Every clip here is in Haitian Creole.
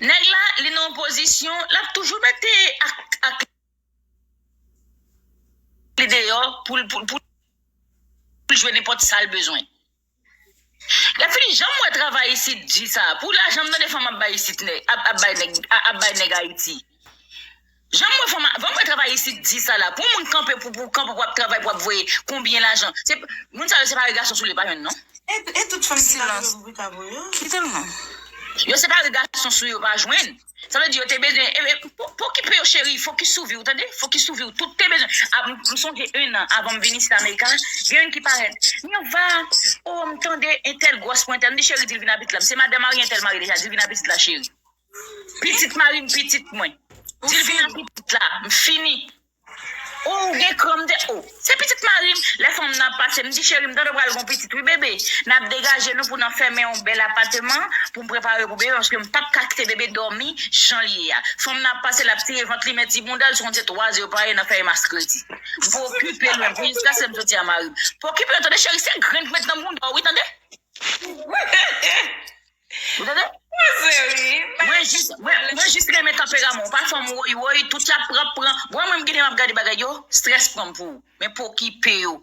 Neg la li nan opozisyon lap toujou mete ak li deyo poul jwe nenpot sal bezwen. Lè fini janm wè travay isit di sa pou lajan m tande fanm ap bay isit ap bay neg ap bay neg ayiti. Janm wè fanm van wè travay isit di sa la pou moun kanpe pou pou kanpe pou ap travay pou ap voye konbyen lajan se moun sa yo se pare gason soule pa jwenn non. E tout fanm ki pale yo bourik avw yo. Kitel non. Yo se pare gason sou yo pa jwenn sa vle di yo te bezwen e pokipe yo cheri fokis sou viw tande fokis sou viw toute bezwen ap m sonje 1 an avanm vin isit amerika gen youn ki parèt mirva oh m tande entèl gròs pou entèl m di cheri dil vin ap isit la m se madan marye entèl marye deja dil vin ap isit la cheri Pitit marim pitit mwen. Dil vin ak pitit la. M fini. Oh ou gen kran m te oh. Se pitit marim. Lè fanm nan ap pase m di cheri m tande pral gon pitit wi bebe. Nap degaje nou pou nan fèmen yon bèl apateman pou m prepare pou bebe paske m pap ka kite bebe dòmi jan l ye a. Fanm nan ap pase lap tire vant li men ti boundal ti konn se 3 ze yo pare nan fèy mas kredi. M pokipe lwen pou jiska se m soti a marim. Pokipe yo tande cheri se grenn k met nan bounda w wi tande. Ou tande? Koze wi. Mwen jis mwen jis renmen tanperaman w pa fanm woy woy tout yap pran pran bon mwen m ginen map gade bagay yo strès pranm pou ou men pokipe yo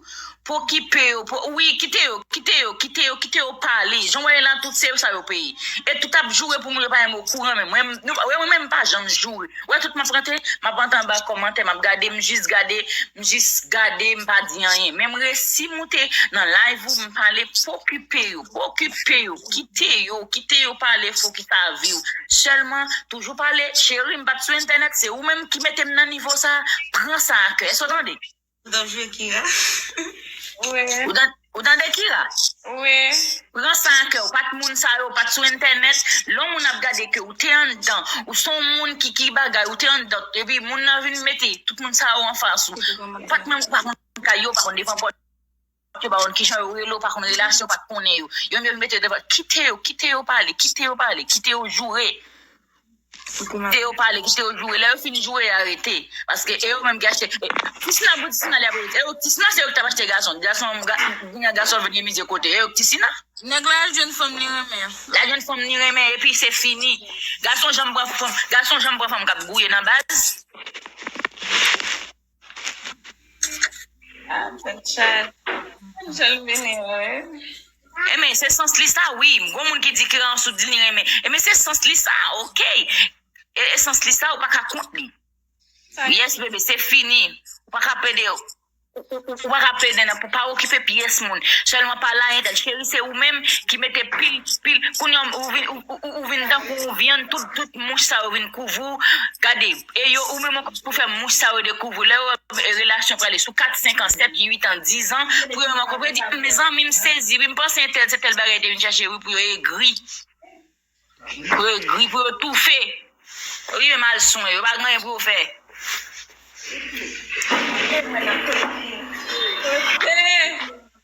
pokipe yo po wi kite yo kite yo kite yo kite yo pale jan w wè yo la tout se yo sa yo peye e tout ap joure pou moun yo pa menm okouran menm mwen nou pa wè mwen menm m pa janm joure wè tout map rante map rante anba kòmantè map gade m jis gade m jis gade m pa di anyen men m resi moute nan live ou m pale pokipe yo Okipe yo, kite yo, kite yo pale fo ki sa viw, selman toujou pale cheri m pat sou entènèt se ou menm ki metem nan nivo sa, pran sa a kè, èske w tande? Ou tap jwe Kira? Wi. Ou tande Kira? Wi. Pran sa a kè, ou pat moun sa yo, ou pat sou entènèt, lè yon moun ap gade ke ou te anndan, ou se yon moun ki ki bagay, ou te anndan, epi moun nan vin mete tout moun sa yo anfas ou, ou pat menm, ou pa konn kay yo, ou pa konn devan pòt. Yo pa konn kijan yo rele w, pa konn relasyon w pa t konnen yo. Yo menm yo vin mete w devan, kite yo, kite yo pale, kite yo pale, kite yo joure. Kite yo pale, kite yo joure. Lè yo fin joure, yo arete. Paske e yo menm ki achte. Tisina pou Tisina li ap rete. E yo k Tisina se yo ki t ap achte gason. Gason, kounye a gason vin gen mizye kote. E yo k Tisina. Nèg la al jwenn fanm li renmen an. Li al jwenn fanm li renmen epi se fini. Gason janm pran fanm, gason janm pran fanm k ap gouye nan baz. Ah, mwen chat. Jel vini wi. E men se sans li sa wi, gon moun ki di ke an sou di li renmen. E men se sans li sa, ok. E e sans li sa ou pa ka kont li. Yes bebe, se fini. Ou pa ka plede, ou ou ou pa ka plede nan pou pa okipe pyès moun. Sèlman pa la entel. Cheri se ou menm ki mete pil pil kounye an ou vin ou ou ou vin tankou yon vyann tout tout mouch sa yo vin kouvri w. Gade. E yo ou menm ankò pou fè mouche sa yo dekouvri w. Lè yo wè relasyon prale sou kat, senk an, sèt, uit an, dizan, pou yo menm ankò pou yo di, Humm zanmi m sezi wi, m panse entèl se tèl bagay te vin chèche wi pou yo egri. Pou yo egri, pou yo toufe. Pou yo menm al swen, yo pa gen anyen pou yo fè. Eee!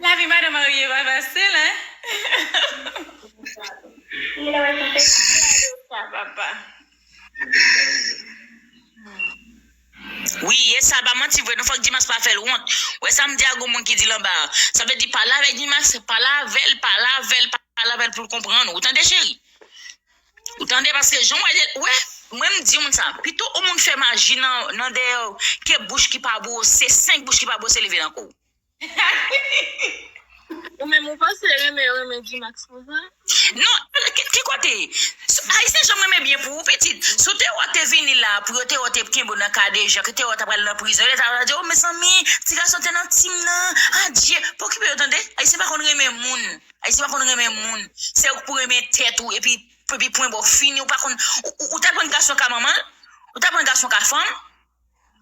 Lavi madan marye pa fasil hein. Wi yes sa pa manti vre non fòk Gmax pa fèl wont wè sam di a gon moun ki dil anba a sa vle di pale avèk Gmax pale avèl pale avèl pale avèl poul konprann ou tande cheri. Ou tande paske jan mwen wè wè mwen m di moun sa pito ou moun fè maji nan nan dèyèw ke bouch ki pa bwose 5 bouch ki pa bwose leve nan kouw. Ou menm ou panse renmen yo renmen Gmax pou sa? Non ki kote? Ayisyen janm renmen byen pou ou pitit. Si w te wè w te vini la pou yo te wè w te kenbe w nan kadejan ke te wè w ta pral nan prizon yo te ta pral di w oh mezanmi ti gason te nan team nan adye pokipe yo tande ayisyen pa konn renmen moun. Ayisyen pa konn renmen moun, se ou ki pou renmen tèt ou epi epi pwen ba w fini ou pa konn ou ta pran gason ka manman l, ou ta pran gason ka fanm,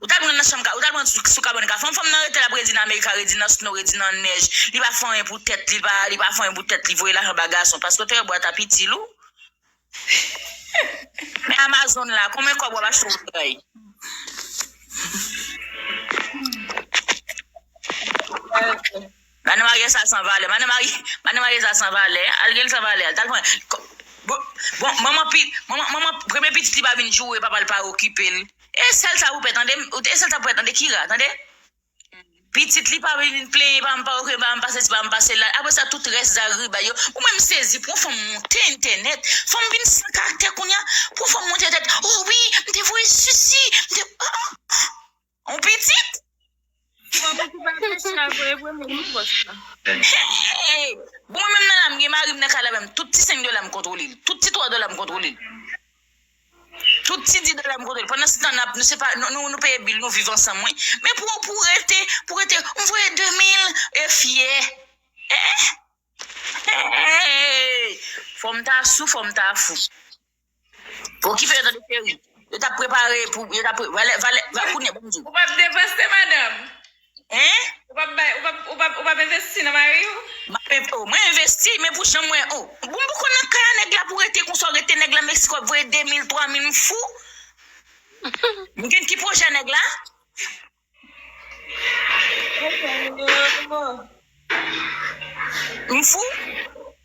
ou ta pran nan chanm ka ou ta pran sou kabann ka fanm, fanm nan rete lap redi nan amerika, redi nan snow, redi nan nèj, li pa fè anyen pou tèt li, li pa fè anyen pou tèt li, voye lajan ba gason, paske ou te wè bwa ta pitil ou. Men amazon la konbyen kob wap achte yon bagay. Manno maryaj sa san valè. Manno maryaj sa san valè. Al gel san valè al tal pran bon manman pi manman premye pitit li pa vin joure papal pa okipel. E sèl sa pou pè tande e sèl sa pou pè tande kira tande. Pitit li pa vin plenyen pa m pa ok pa m pa sesi pa m pa sela apre sa tout rès zagribay yo ou menm sezi pou yon fanm monte entènèt fanm vin san karaktè kounya pou yon fanm monte entènèt oh wi m te voye sesi m te aah on pitit Hey bon mwen menm nan la m gen mari m nan kay la menm tout ti 5 dola m kontwole l tout ti 3 dola m kontwole l. Tout ti di dola m kote l. Pandan se tan nap nou se pa nou peye bil nou viv ansanm wi. Men pou pou rete pou rete m voye 2 mil e fyè eehh fòm ta sou fòm ta fou. Bon kife yo tande cheri yo tap prepare pou yo tap valè valè kounye banm di w. Ou pap depanse madanm. Hein? Ou pap bay, ou pap, ou pap, ou pap envesti nan mari ou? Map en, oh mwen envesti men pou jan mwen, oh. Bon m poko nan kay a nèg la pou rete konsa ou rete nèg la Mexico ap voye 2000, 3000 m fou? M gen ki pwojè nèg la? Mwen fou?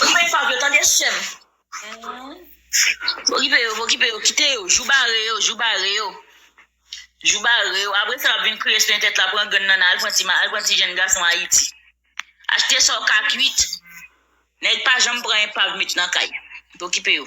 Koupe fab yo tande seum. Pokipe yo pokipe yo kite yo jou bare yo jou bare yo jou bare yo apre sa wap vin kriye sou entèt la pran grann nan al pran ti ma al pran ti jenn gason ayiti achte sa w ka kuit nèg pa janm pran enpav met nan kay pokipe yo.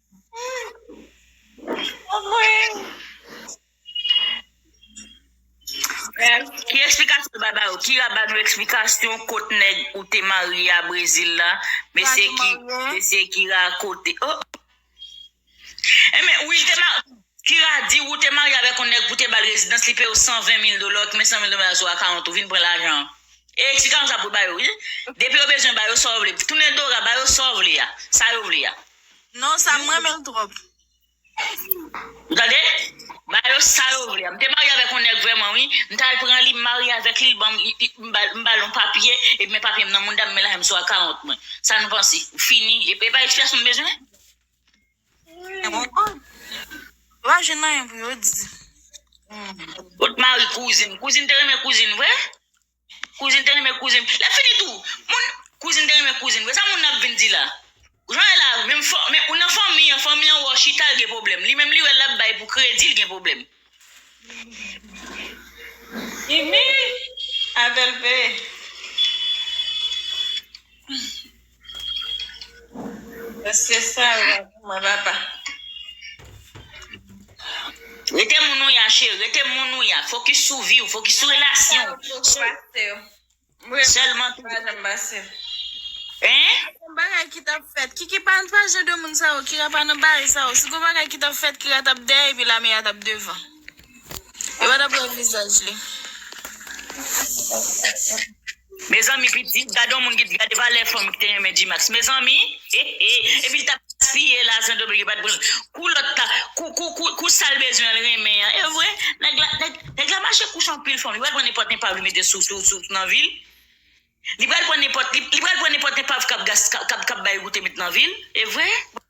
Ki eksplikasyon nou bay ba yo? Kira ba nou eksplikasyon kot nèg ou te marye a Brezil la? Mesye ki mesye Kira kote oh Enben wi li te ma Kira di ou te marye avèk yon nèg pou te bal rezidans li peyew 120 mil dola ou te met 100 mil dola sou akawont ou vin pran lajan an e eksplikasyon sa pou bay yo wi depi yo bezwen ba yo sa yo vle tounen Dora ba yo sa yo vle a sa yo vle a. Non sa m renmen l trop. Ou tande? Ba yo sa yo vle a. M te marye avèk yon nèg vrèman wi. M t al pran li, m marye avèk li, l ban m ba m ba l yon papye, epi men papye m nan mouda m, men lajan m sou a 40 mwen. Sa nou panse? Ou fini. E pa ekspliyasyon m bezwen? Mwen konprann. Yo pa jwenn anyen pou yo di. Kot mari kouzin? Kouzin te renmen kouzin vre? Kouzin te renmen kouzin l. Lè fini tou, moun, kouzin te renmen kouzin vre. Sa moun nan ap vin di la? Jan e la menm fò, men ou nan fanmi an, fanmi an wè w chita l gen pwoblèm. Li menm li wè l ap bay pou kredi l gen pwoblèm. Mimi, avè l pe. Mesye sa yo pa bon mwen papa. Rete moun ou ya cheri, rete moun ou ya. Fokis sou viw, fokis sou relasyon ou. Mwen pa janm pase yo. Mwen Sèlman tou. pa janm pase. Hein? Gon bagay ki tap fèt. Kiki pa pa jan de moun sa yo. Kira pa nan bare sa yo. Si gon bagay ki tap fèt Kira tap dèyè epi Lamea tap devan. Yo pa tap wè vizaj li. Mezanmi pitit gade yon moun ki t gade valè fanm ki te renmen Gmax mezanmi hehe epil tap gaspiye lajan Dobligi pat pranl kou lòt ta kou kou kou kou sal bezwen l renmen an evre nèg la nèg nèg la mache kouche anpil fanm li pral pran nenpòt enpav li mete sou sou sou nan vil li pral pran nenpòt li pral pran nenpòt enpav kap gas kap kap bay goute met nan vil evre.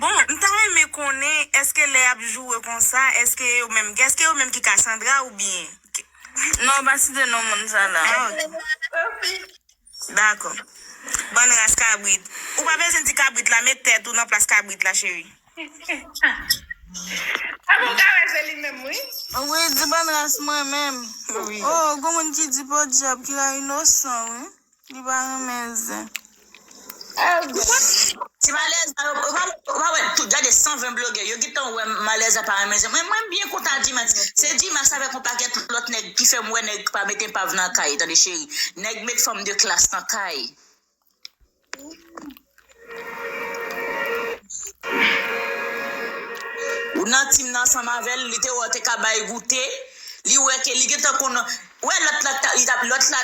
Bon m ta renmen konnen eske lè yap joure konsa eske yo menm eske yo menm ki kasandra ou byen Non ou pa site non moun sa la ah ok Dakò Bann ras kabrit Ou pa bezwen di kabrit la met tèt ou nan plas kabrit la cheri Epa ou ka wè se li menm wi Wi di bann ras mwen menm oh gon moun ki di podyab kira inosan wi. Li pa renmen zen. Ti malèz la ou pa ou pa wè tout gade 120 blogè yo gintan wè malèz la pa renmen zen mwen mwen byen kontan dmax se dmax avèk yon pakèt lòt nèg ki fèm wè nèg pa met enpav nan kay tande cheri nèg met fanm de klas nan kay. Ou nan team nan ansanm avèl li te wè ou te ka bay goute li wè ke li gentan konn ou wè lòt la li tap lòt la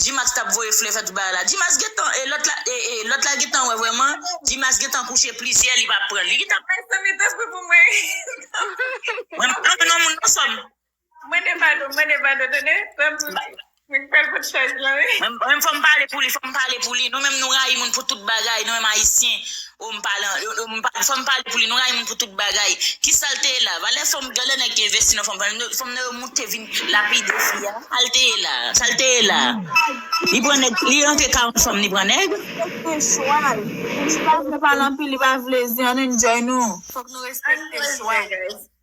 Gmax tap voye flè fè tout bagay la Gmax gentan e lòt la ee lòt la gentan wè vrèman Gmax gentan kouche plizyè li pa pran li gentan bay flè mete flè pou mwen mwen pa renmen nan moun nan sòm. Mwen de vado mwen de vado tande pèm mwen fèl pou tchèz lan wi. Menm fòm pale pou li fòm pale pou li nou menm nou rayi moun pou tout bagay nou menm ayisyen oh m pale an fòm pale pou li nou rayi moun pou tout bagay kisal te ye la valè fòm gen lè nèg te envesti nan fòm fòm nan yo moute vin lapide fi a sal te ye la sal te ye la li pran nèg li rantre ka yon fanm li pran nèg. Respekte chwal li pa vle pale anpil li pa vle zen an nou enjoy nou fòk nou respekte chwal.